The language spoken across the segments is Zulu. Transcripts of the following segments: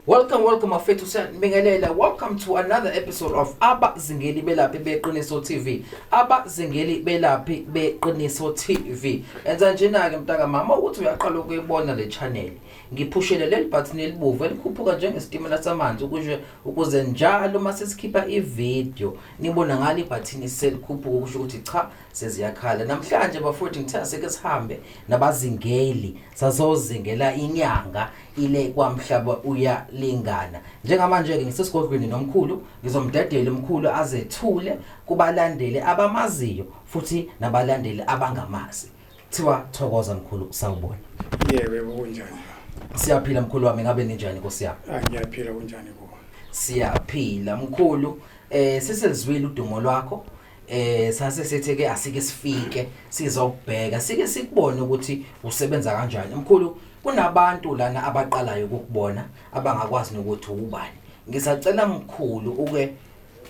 Welcome, welcome afethu siyabingelela. Welcome to another episode of Abazingeli Belaphi Beqiniso TV. Abazingeli Belaphi Beqiniso TV. Enza njena ke mntaka mama ukuthi uyaqala ukuyibona le channel. Ngiphushele leli bhathini elibovu elikhuphuka njengesitimela samanzi ukusho ukuze njalo uma sesikhipha ividiyo nibona ngalo ibhathini selikhuphuka ukusho ukuthi cha seziyakhala. Namhlanje bafowethu ngithe asike sihambe nabazingeli sazozingela inyanga ile kwamhlaba uyalingana. Njengamanje-ke ngisesigodlweni nomkhulu ngizomdedela umkhulu azethule kubalandeli abamaziyo futhi nabalandeli abangamazi. Kuthiwa thokoza mkhulu sawubona. Yewe kunjani? Siyaphila mkhulu wami ngabe ninjani Nkosi yami? Ah ngiyaphila kunjani kuwe? Siyaphila mkhulu eh siselizwile udumo lwakho eh sase sithi ke asike sifike sizokubheka sike sikubone ukuthi usebenza kanjani mkhulu kunabantu lana abaqalayo ukukubona abangakwazi nokuthi ubani ngisacela mkhulu uke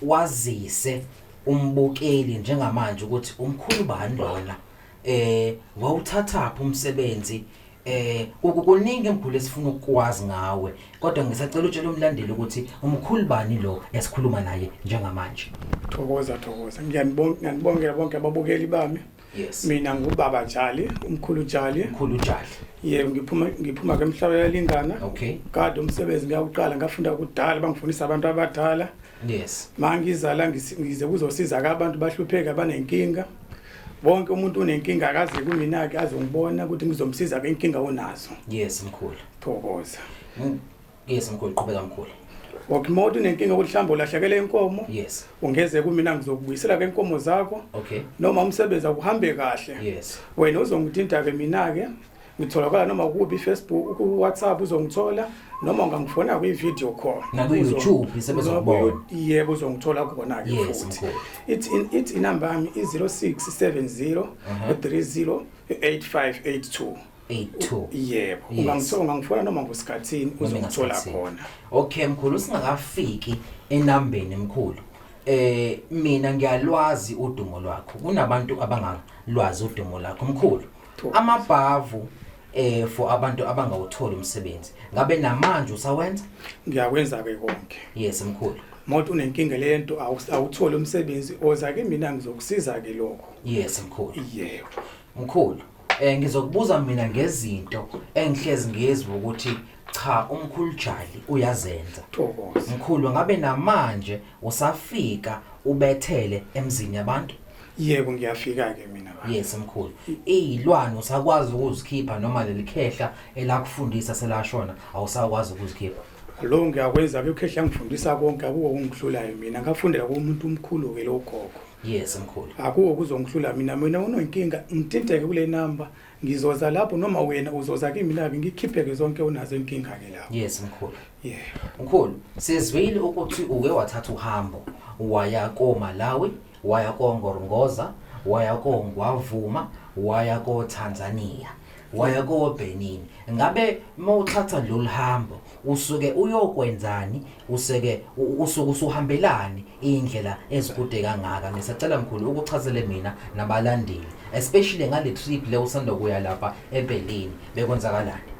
wazise umbukeli njengamanje ukuthi umkhulu bani lona eh wawuthathaphi umsebenzi eh kukuningi emkhulu esifuna ukwazi ngawe kodwa ngisacela utshela umlandeli ukuthi umkhulu bani lo esikhuluma naye njengamanje thokoza thokoza ngiyanibonga ngiyanibongela bonke ababukeli bami Yes. Mina ngubaba Jali, umkhulu Jali. Umkhulu Jali. Yebo ngiphuma ngiphuma ke emhlabeni yalingana. Okay. Kade umsebenzi ngiyawuqala ngafunda kudala bangifundisa abantu abadala. Yes. Mangizala ngize kuzosiza ke abantu bahlupheka banenkinga. Wonke umuntu unenkinga akaze kumina ke azongibona ukuthi ngizomsiza ke inkinga onazo. Yes mkhulu. Thokoza. Mm. Yes mkhulu qhubeka mkhulu. Okay mawuthi unenkinga ukuthi mhlawumbe ulahlekele inkomo. Yes. Ungeze kumina ngizokubuyisela ke inkomo zakho. Okay. Noma umsebenzi akuhambe kahle. Yes. Wena uzongithinta ke mina ke ngitholakala noma kubi Facebook ku WhatsApp uzongithola noma ungangifona kwi video call naku YouTube sebezokubona yebo uzongithola kona ke futhi it's in it's inamba yami i 0670 30 8582 82 yebo Yes. ungangithola ungangifona noma kusikhathini Noma uzongithola ngasikhathini. khona okay mkhulu singakafiki enambeni mkhulu eh mina ngiyalwazi udumo lwakho kunabantu abangalwazi udumo lakho mkhulu Thokoza. amabhavu eh for abantu abangawutholi umsebenzi ngabe namanje usawenza ngiyakwenza ke konke yes mkhulu moto unenkinga lento awus- awutholi umsebenzi oza ke mina ngizokusiza ke lokho yes mkhulu yebo mkhulu Eh ngizokubuza mina ngezinto engihlezi ngizwe ukuthi cha umkhulu Jali uyazenza. Thokoza. Mkhulu ngabe namanje usafika ubethele emzini yabantu? Yebo ngiyafika ke mina baba. Yes mkhulu. Izilwane usakwazi ukuzikhipha noma lelikhehla elakufundisa selashona awusakwazi ukuzikhipha. Lo ngiyakwenza ke ukhehla ngifundisa konke akuko kungihlulayo mina ngafundela kumuntu omkhulu ke lo gogo. yes mkhulu akuwo kuzongihlula mina mina unonkinga ngithinteke kule number ngizoza lapho noma wena uzoza kimi lapho ngikhipheke zonke unazo inkinga ke lapho yes mkhulu yeah mkhulu sizwile ukuthi uke wathatha uhambo waya ko Malawi waya ko Ngorongoza waya ko Ngwavuma waya ko Tanzania waya kobenin ngabe mawuthatha lolu hambo usuke uyokwenzani useke usuke usuhambelani indlela ezikude kangaka ngisacela mkhulu ukuchazele mina nabalandeli especially ngale trip le usanda kuya lapha eBerlin bekwenzakalani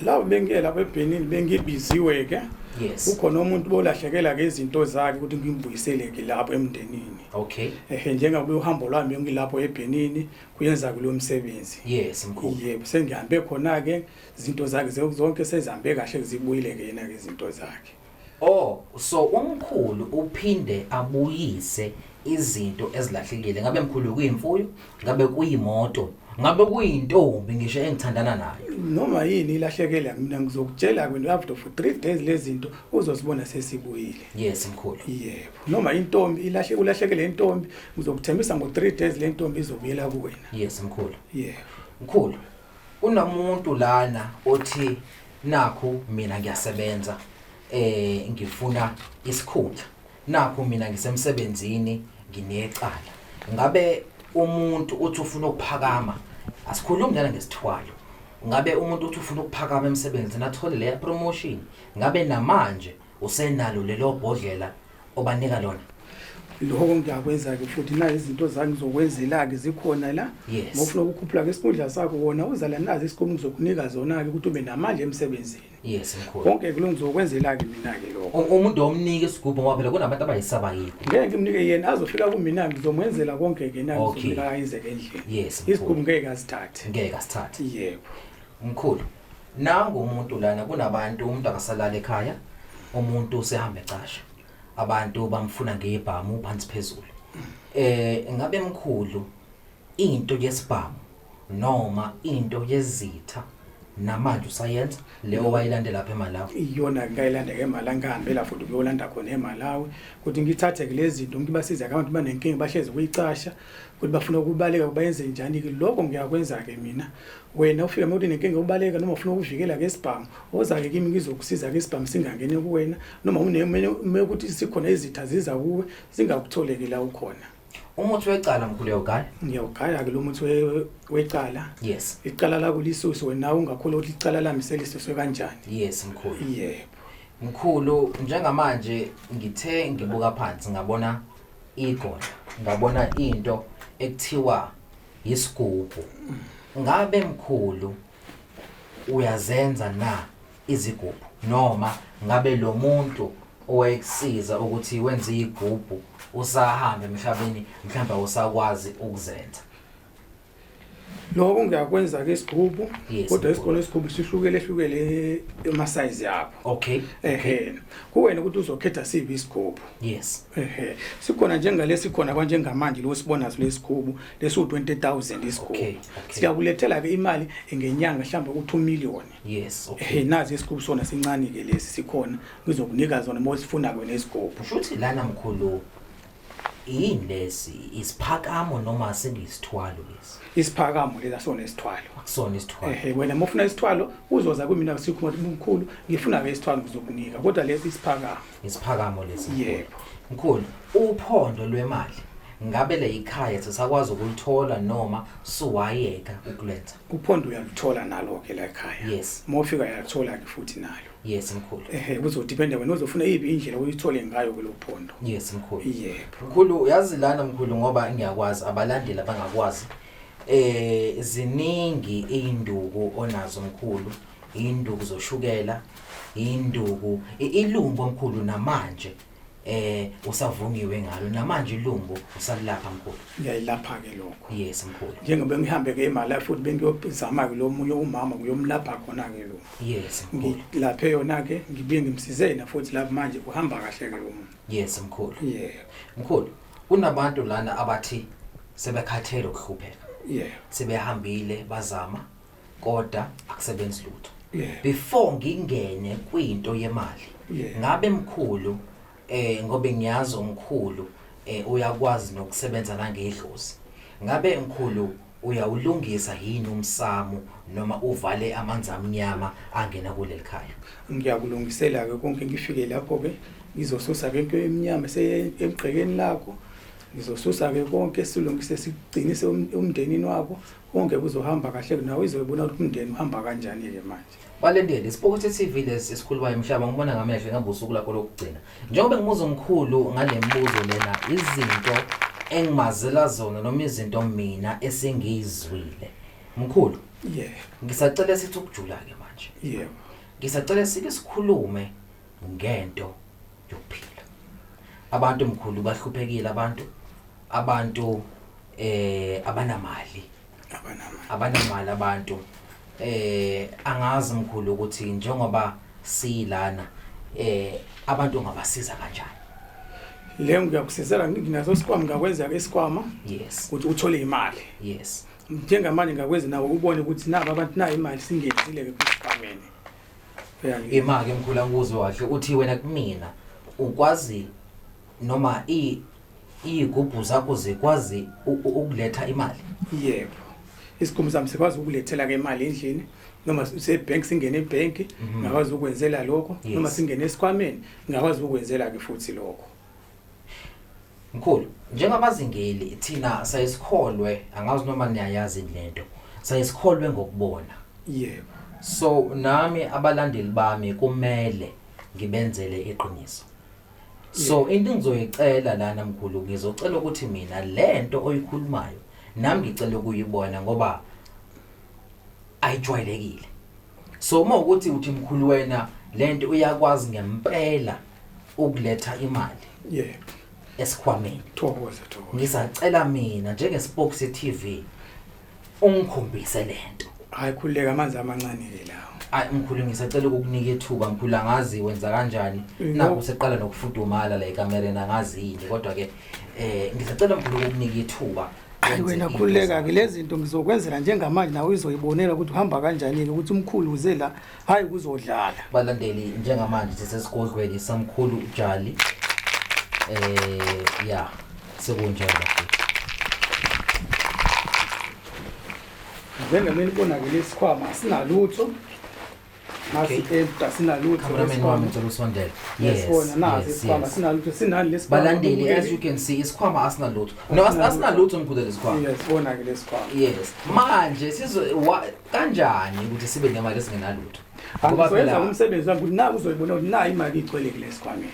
la bengiye lapha eBerlin bengibiziwe ke yes ukhona umuntu bolahlekela ke izinto zakhe ukuthi ngimbuyiseleke lapho emndenini okay ehe njengabe uhambo lwami ngilapho eBerlin kuyenza kulo msebenzi yes mkhulu yebo sengihambe khona ke izinto zakhe zonke sezihambe kahle zibuyile ke yena ke izinto zakhe oh so umkhulu uphinde abuyise izinto ezilahlekile ngabe mkhulu kuyimfuyo ngabe kuyimoto ngabe kuyintombi ngisho engithandana nayo noma yini ilahlekela mina ngizokutshela kwenu after for 3 days lezinto uzosibona sesibuyile yes mkhulu yebo noma intombi ilahle ulahlekele intombi ngizokuthembisa ngo 3 days le ntombi izobuyela kuwena yes mkhulu yeah mkhulu kunomuntu lana othi nakho mina ngiyasebenza eh ngifuna isikhundla nakho mina ngisemsebenzini nginecala ngabe umuntu uthi ufuna ukuphakama asikhulumi lana ngesithwalo ngabe umuntu uthi ufuna ukuphakama emsebenzini athole le promotion ngabe namanje usenalo lelo bhodlela obanika lona lokho ngiyakwenza-ke futhi na izinto zami zokwenzela-ke zikhona la Yes. mofuna ukukhuphula-ke isikhundla sakho wona uzala nazi isikhumi ngizokunika zona-ke ukuthi ube namandla emsebenzini yes mkhulu konke-ke lo ngizokwenzela-ke mina-ke lokho U- umuntu omnike isigubhu ngoba phela kunabantu abayisaba yini ngeke ngimnike yena azofika kumina ngizomwenzela konke-ke na Okay. ngizomnika ayenzeke endlini Yes, mkhulu. isikhumi ngeke azithathe ngeke asithathe yebo mkhulu nangu umuntu lana kunabantu umuntu akasalala ekhaya umuntu usehamba ecasha abantu bamfuna ngebhamu phansi phezulu eh ngabe mkhulu into yesibhamu noma into yezitha namanje usayenza leyo wayilande lapha eMalawi iyona ngayilanda ke eMalawi ngihambe la futhi kuyolanda khona eMalawi ukuthi ngithathe ke lezi zinto ngibasize abantu banenkinga bahlezi kuyicasha ukuthi bafuna ukubaleka bayenze njani ke lokho ngiyakwenza ke mina wena ufika mawuthi nenkinga ubaleka noma ufuna ukuvikela ke isibhamu ozake kimi ngizokusiza ke isibhamu singangene kuwena noma unemene ukuthi sikhona izitha ziza kuwe zingakutholeke la ukhona umuthi wecala mkhulu uyawugaya ngiyawugaya ke lo muthi wecala yes icala la kulisusu wena ungakhula ukuthi icala lami selisusu kanjani yes mkhulu yebo mkhulu njengamanje ngithe ngibuka phansi ngabona igolo ngabona into ekuthiwa yisigubhu ngabe mkhulu uyazenza na izigubhu noma ngabe lo muntu owayekusiza ukuthi wenze igubhu usahambe emhlabeni mhlawumbe usakwazi ukuzenza Lokho ngiyakwenza ke isigubhu Yes, kodwa isikole isigubhu sihlukele hlukele ema size yakho. Okay. Ehhe. Kuwena ukuthi uzokhetha siphi isigubhu. Yes. Ehhe. Sikhona njengalesi khona kwanjengamanje lo sibona lesigubhu lesu 20000 isigubhu. Okay, okay. Siyakulethela ke imali ngenyanga mhlawumbe ukuthi 2 million. Yes. Okay. Ehhe nazi isigubhu sona sincane ke lesi sikhona ngizokunika zona mawusifuna kwena isigubhu. Kushuthi lana mkhulu yini lesi isiphakamo noma sengiyisithwalo lesi isiphakamo lesi asona isithwalo akusona isithwalo ehe wena mufuna isithwalo uzoza kumina sikhuma umkhulu ngifuna ke isithwalo ngizokunika kodwa lesi isiphakamo isiphakamo lesi yebo mkhulu uphondo lwemali ngabe le ikhaya sisakwazi ukulithola noma suwayeka ukulenza uphondo uyalithola nalo ke la ekhaya yes mofika uyalithola ke futhi nalo Yes mkhulu. Eh kuzodependa wena uzofuna yipi indlela uyithole ngayo kulophondo. Yes mkhulu. Yebo. Mkhulu uyazi lana mkhulu ngoba ngiyakwazi abalandeli abangakwazi. Eh ziningi induku onazo mkhulu. Induku zoshukela, induku ilumbo mkhulu namanje. eh usavungiwe ngalo namanje ilumbo usalilapha mkhulu ngiyayilapha ke lokho yes mkhulu njengoba ngihambe ke imali futhi bengiyobizama ke lo munye umama kuyomlapha khona ke lo yes mkhulu laphe yona ke ngibuye ngimsize yena futhi lapha manje uhamba kahle ke lo muntu yes mkhulu yeah mkhulu kunabantu lana abathi sebekhathele ukuhlupheka yeah sebehambile bazama koda akusebenzi lutho Yeah. before ngingene kwinto yemali Yeah. ngabe mkhulu eh ngobe ngiyazi umkhulu eh uyakwazi nokusebenza nangedlozi ngabe mkhulu uyawulungisa yini umsamo noma uvale amanzi amnyama angena kuleli khaya ngiyakulungisela-ke konke ngifike lapho-ke ngizosusa-ke into emnyama esemgqekeni lakho ngizosusa-ke konke silungise sigcinise um- umndenini wakho konke kuzohamba kahle nawe izoyibona ukuthi umndeni uhamba kanjani-ke manje balendele isipokothi tv lesi esikhulumayo mhlaba ngibona ngamehlo ingaba usuku lakho lokugcina njengoba ngimuza omkhulu ngale mbuzo lena izinto engimazela zona noma izinto mina esingiyizwile mkhulu yebo ngisacela sithi ukujula-ke manje yebo ngisacela sike sikhulume ngento yokuphila abantu mkhulu bahluphekile abantu abantu eh abanamali abanamali abanamali abantu eh angazi mkhulu ukuthi njengoba silana eh abantu ngabasiza kanjani le ngiyakusizela nginaso isikwama ngakwenza ke isikwama yes ukuthi uthole imali yes njengamanje ngakwenza nawo ubone ukuthi nabo abantu nayo imali singenzile ke kusikwameni Imake mkhula ngikuzwe kahle uthi wena kumina ukwazi noma i iyigubhu zakho zikwazi u- u- ukuletha imali. yebo isikhumbu sami sikwazi ukulethela-ke imali endlini noma sebhenki singene ebhenki ngakwazi ukwenzela lokho Yes. noma singene esikhwameni ngakwazi ukwenzela-ke futhi lokho Mkhulu, njengabazingeli thina sayisikholwe angazi noma niyayazi lento. Sayisikholwe ngokubona. Yebo. So nami abalandeli bami kumele ngibenzele iqiniso. So into engizoyicela lana mkhulu ngizocela ukuthi mina lento oyikhulumayo nami ngicela ukuyibona ngoba ayijwayelekile. So uma ukuthi uthi mkhulu wena lento uyakwazi ngempela ukuletha imali yebo esikhwameni thokoza thokoza ngisacela mina njengespokes TV ungikhombise lento hayi khuleka amanzi amancane ke lawo Ay mkhulu ngisacela ukukunika ithuba mkhulu angazi wenza kanjani No. nakho seqala nokufudumala la ekamereni angazi yini kodwa ke eh ngisacela mkhulu ukukunika ithuba hayi wenze wena into khuleka-ke zakho. lezi zinto ngizokwenzela njengamanje nawe uzoyibonela ukuthi uhamba kanjani-ke ukuthi umkhulu uze la hayi kuzodlala balandeli njengamanje sisesigodlweni samkhulu ujali eh ya sekunjalo njengameni konakele isikhwama sinalutho balandeli as you can see isikhwama asinalutho no asinalutho ngikhudela isikhwama yes manje kanjani ukuthi sibe nemali esingenalutho ngoba phela umsebenzi wami ukuthi naku uzoyibona ukuthi nayi imali igcwele kulesikhwameni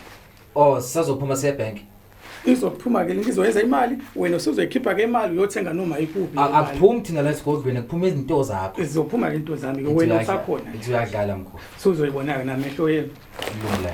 oh sazophuma siye bank izophuma ke ngizoyenza imali wena usuzoyikhipha ke imali uyothenga noma ikuphi akuphumi thina la esigodlweni kuphuma izinto zakho izophuma ke into zami ke wena usakhona uyadlala mkhulu suzoyibona ke namehlo yenu lula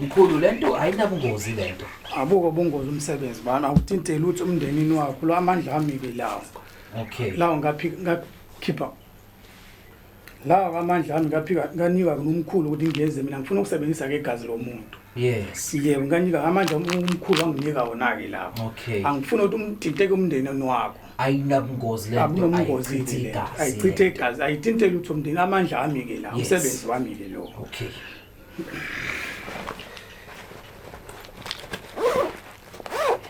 Mkhulu lento ayinabungozi lento. Abuko bungozi umsebenzi bana awuthinte lutho umndenini wakho lo amandla ami ke lawo. Okay. Lawo ngaphi ngakhipha. Lawo amandla ami ngaphika nganika kunomkhulu ukuthi ngiyeze mina ngifuna ukusebenzisa ke igazi lomuntu. Yes. Yebo ngiyanika amandla umkhulu anginika wona ke lapho. Okay. Angifuni ukuthi umthinteke umndeni wakho. Ayinabungozi le nto. Abungozi ithi le. Ayichithe igazi, ayithinte lutho umndeni amandla ami ke la. Umsebenzi wami ke lo. Okay.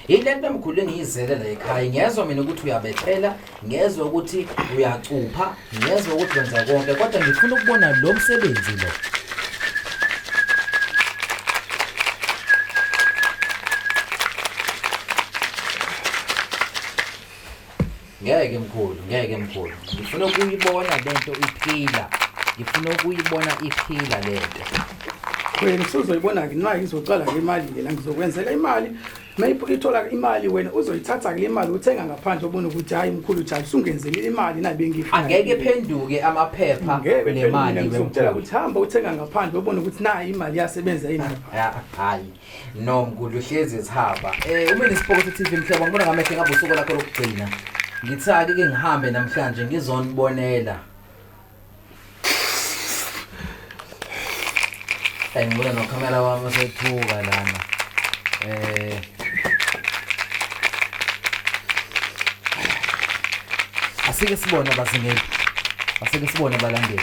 yile nto emkhulu engiyizele la ekhaya ngiyezwa mina ukuthi uyabethela ngiyezwa ukuthi uyacupha ngiyezwa ukuthi wenza konke kodwa ngifuna ukubona lo msebenzi lo Ngeke mkhulu, ngeke mkhulu. Ngifuna ukuyibona lento iphila. Ngifuna ukuyibona iphila lento. Wena usuzoyibona ke nxa izocala ke imali ke la ngizokwenzela imali. Mayipho ithola imali wena uzoyithatha ke le mali uthenga ngaphandle ubona ukuthi hayi mkhulu cha usungenzele imali na bengifuna. Angeke phenduke amaphepha Ngeke le mali ngizokutshela wemkhulu. ukuthi hamba uthenga ngaphandle ubona ukuthi nayi imali yasebenza yini. Ya, Hayi. no mgudla uhlezi ezihaba um eh, uma nesipokotho tv mhlobo ngibona ngamehlo ngabe usuku lakho lokugcina ngithake ke ngihambe namhlanje ngizonibonela ayi ngibona nokhamera wami osethuka lana um asike sibone abazingeli asike sibone abalandeli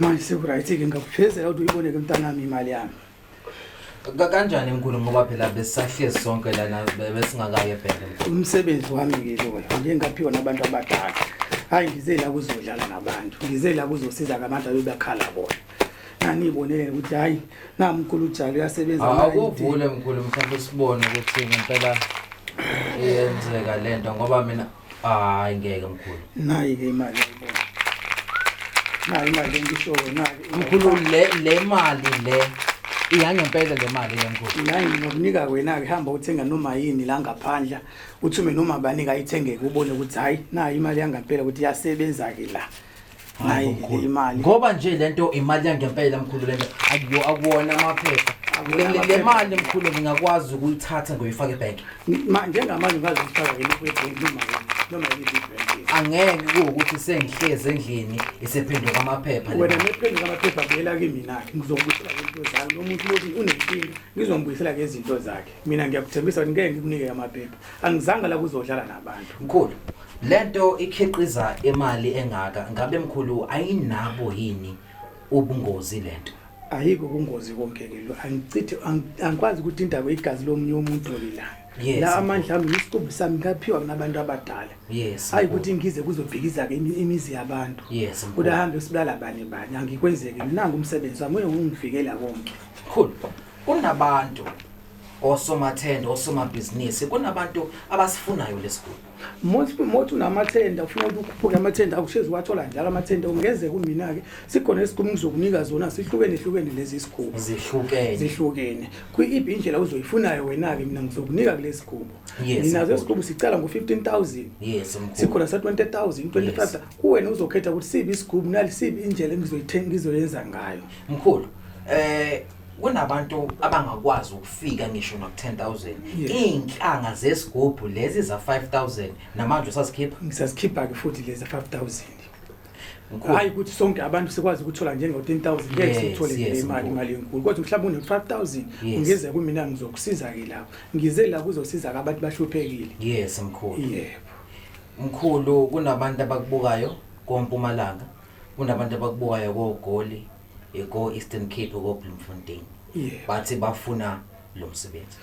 manje sekurayithike ngakufezela ukuthi uyibone ke mntanami imali yami Ka- kanjani mkhulu ngoba phela besisahlezi sonke lana be- besingakaye ebheke mkhulu umsebenzi wami ke loyo ngike ngaphiwa nabantu abadala hhayi ngize la kuzodlala nabantu ngize la kuzosiza ngabantu abebakhala bona nganibonele ukuthi hayi namkhulu ujalo uyasebenza akuvule mkhulu mhlawumbe sibone ukuthi ngempela iyenzeka le nto ngoba mina hayi ngeke mkhulu nayi-ke imali ayibona nayi imali engishoyo nayi mkhulu le le mali le iyangempela le mali le mkhulu nayi nginokunika wena-ke hamba uthenga noma yini la ngaphandla uthume noma banika ayithengeke ubone ukuthi hhayi nayi imali yangempela ukuthi iyasebenza-ke la hayi imali ngoba nje lento imali yangempela mkhulu lento akuyo akuwona amaphepha le mali mkhulu ngingakwazi ukuyithatha ngoyifaka ebank njengamanje ngazi ukufaka yini kwebank noma noma yini angeke kuwukuthi sengihlezi endlini isephenduka amaphepha wena nephenduka amaphepha buyela kimina ngizombuyisela ngezinto zakhe lo muntu lothi unenkinga ngizombuyisela ngezinto zakhe mina ngiyakuthembisa ukuthi ngeke ngikunike amaphepha angizanga la kuzodlala nabantu mkhulu Lento ikhiqiza imali engaka ngabe mkhulu ayinabo yini ubungozi lento? Ayikho ubungozi konke ke lo angichithi angikwazi ukuthi indaba igazi lomunye umuntu lilanga. Yes, la amandla ami isiqumbu sami ngaphiwa kunabantu abadala yes hayi ukuthi ngize kuzobhikiza ke imizi yabantu yes kuda hambe sibulala bani bani angikwenzeki nangu umsebenzi wami ungivikela konke cool kunabantu osomathende osomabhizinisi kunabantu abasifunayo lesiguli Mothi mothi unamathenda ufuna ukuthi ukhuphuke amathenda akushezi wathola njalo amathenda ungeze kumina ke sikhona isikhumbu zokunika zona sihlukene hlukene lezi sikhumbu zihlukene zihlukene kwi-ib indlela uzoyifunayo wena ke mina ngizokunika kulesi sikhumbu Yes, nginazo mkhulu. isikhumbu sicala ngo-15000 yes mkhulu sikhona sa-20000 25 kuwena uzokhetha ukuthi sibi isikhumbu nalisibi indlela engizoyithe- ngizoyenza ngayo mkhulu eh kunabantu abangakwazi ukufika ngisho no 10000 iinhlanga zesigubhu lezi za 5000 namanje usasikhipha ngisazikhipha ke futhi lezi 5000 hayi ukuthi sonke abantu sikwazi ukuthola njengo 10000 ngeke sithole le imali imali enkulu kodwa mhlawumbe une 5000 ungeze kumina ngizokusiza ke lapho ngize la kuzosiza ke abantu bahluphekile yes mkhulu yebo mkhulu kunabantu abakubukayo kompumalanga kunabantu abakubukayo kogoli eko Eastern Cape ko Bloemfontein yeah. bathi bafuna lo msebenzi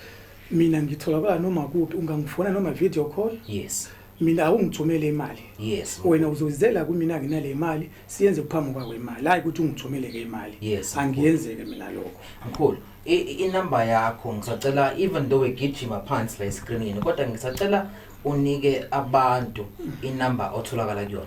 mina ngitholakala noma kuphi ungangifona noma video call yes mina awungithumele imali yes wena uzozizela kumina nginale imali siyenze kuphambi kwakho imali hayi ukuthi ungithumele ke imali yes angiyenzeke mina lokho mkhulu inumber yakho ngisacela even though egijima phansi la escreenini kodwa ngisacela unike abantu inumber otholakala kuyona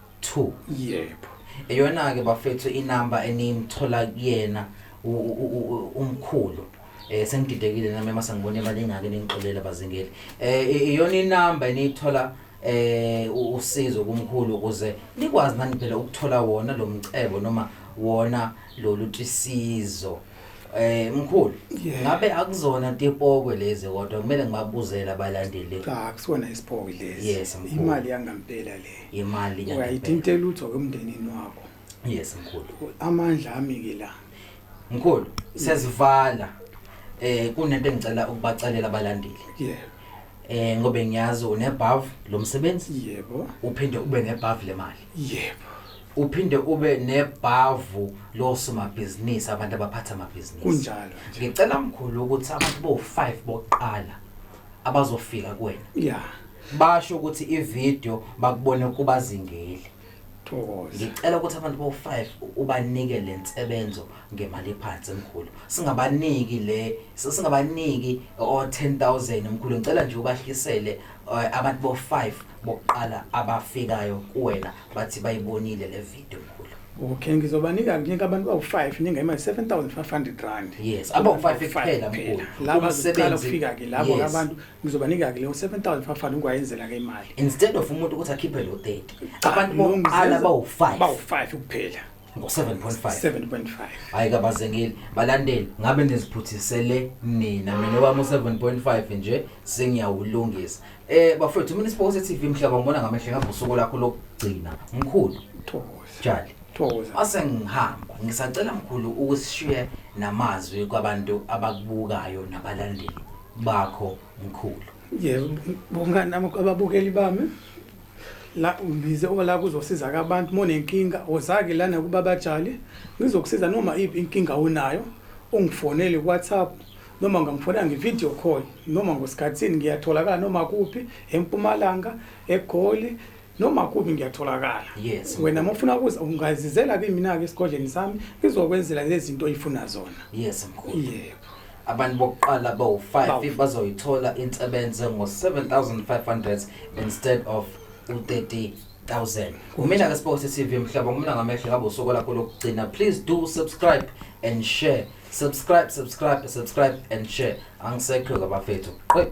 2 yebo eyona ke bafethu inamba enimthola kuyena umkhulu eh sengididekile nami mase ngibona imali engake ningixolela bazingeli eh iyona inamba eniyithola eh usizo kumkhulu ukuze nikwazi nani phela ukuthola wona lo mcebo noma wona lolu tisizo Eh mkhulu, Yeah. ngabe akuzona tipokwe lezi kodwa kumele ngibabuzele abalandeli cha kusona isipoki lesi Yes, mkhulu. imali yangampela le imali yangempela. uyayithinta lutho ke emndenini wakho Yes mkhulu. amandla ami ke la Mkhulu, sesivala. Eh kunento engicela ukubacelela abalandeli. yebo Eh ngoba ngiyazi unebhavu lomsebenzi yebo uphinde ube nebhavu lemali. yebo uphinde ube nebhavu losomabhizinisi abantu abaphatha amabhizinisi kunjalo ngicela mkhulu ukuthi abantu bo-5 bokuqala abazofika kuwena ya basho ukuthi ividiyo bakubone kubazingeli thokoza ngicela ukuthi abantu bo-5 ubanike le nsebenzo ngemali ephansi mkhulu singabaniki le singabaniki o-10000 mkhulu ngicela nje ubahlisele eh, abantu bo-5 bokuqala abafikayo kuwena bathi bayibonile le video mkhulu okay ngizobanika kunika abantu bawu-five ninga imali seven thousand five hundred rand yes abawu-five kuphela mkhulu laba zokuqala ukufika-ke labo Yes. abantu ngizobanika-ke leyo seven thousand five hundred ngiwayenzela-ke imali instead of umuntu ukuthi akhiphe lo 30 Cha, abantu no, bokuqala ngizeza- bawu-five bawu-five kuphela ngo-7.5 7.5 hhayi kabazengeli balandeli ngabe niziphuthisele nina mina wami u-7.5 nje sengiyawulungisa um bafowethu mina isipokosi e-tv mhlaba ngibona ngamehle ngabe usuku lakho lokugcina mkhulu thokoza jali thokoza mase ngihamba ngisacela mkhulu ukusishiye namazwi kwabantu abakubukayo nabalandeli bakho mkhulu yebo bongani nami ababukeli bami la ngize ola kuzosiza ke abantu uma unenkinga wozake lana kubaba Jali ngizokusiza noma iphi inkinga onayo ungifonele kuWhatsApp noma ngamfonela ngevideo call noma ngosikhathini ngiyatholakala noma kuphi empumalanga egoli noma kuphi ngiyatholakala yes. wena uma ufuna kuza ungazizela kimi mina-ke esigodleni sami ngizokwenzela lezi zinto oyifuna zona yes mkhulu yebo Abantu bokuqala abawu-5 bazoyithola insebenze ngo-7500 instead of u-30 1000 kumina ke sibonge sisiv mhlaba kumina ngamehlo ngabe usuku lakho lokugcina please do subscribe and share subscribe subscribe subscribe and share angisekho kabafethu qwe